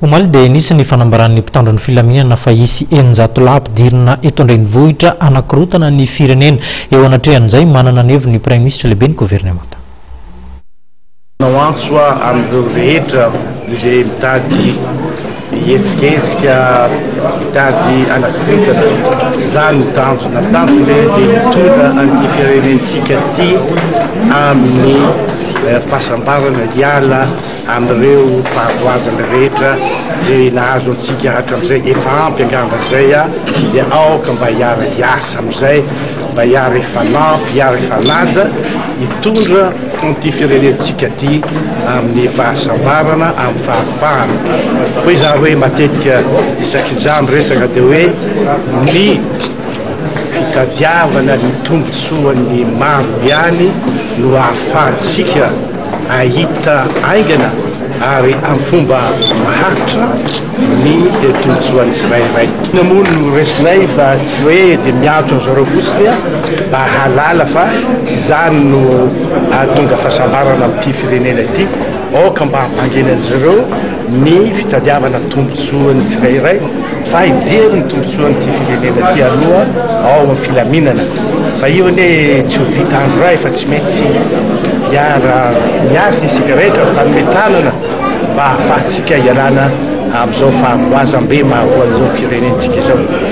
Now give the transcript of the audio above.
Omaly dia nisy ny fanambaran'ny mpitandro ny filaminana fa hisy eninjato lahy ampidirina eto an-drenivohitra hanakorontana ny firenena. Eo anatrehan'izay, manana ny heviny ny praiminisitra lehiben'ny governemanta. Manao antso aho amin'ireo rehetra izay mitady hihetsiketsika, mitady hanakorontana, tsy izaho no tanjona. Ny tanjona dia hitondra an'ity firenentsika ity amin'ny fahasambarana, hiala Amin'ireo fahavoazana rehetra izay nahazo antsika hatramin'izay, efa ampy angamba izay a! dia aoka mba hiara hiasa amin'izay mba hiara hifanampy, hiara hifanaja hitondra an'ity firenentsika ity amin'ny fahasambarana, amin'ny fahafahana. Hoy izaho hoe matetika isaky ny za miresaka dia hoe ny fitadiavana ny tombontsoan'ny maro ihany no ahafahantsika. Hahita haingana ary amin'ny fomba maharitra ny tombontsoan'ny tsirairay. Inona moa no resinay fa tsy hoe dia miantso an-dry zareo fotsiny aho mba hahalala fa tsy izany no hahatonga fahasambarana amin'ity firenena ity. Aoka mba hampanginan'izy ireo ny fitadiavana tombontsoan'ny tsirairay fa hijery ny tombontsoan'ity firenena ity aloha ao amin'ny filaminana fa io anie tsy ho vita andro iray fa tsy maintsy hiara miasa isika rehetra mifanome tanana mba hahafahantsika hialana amin'izao fahavoazam-be maharoa an'izao firenentsika izao.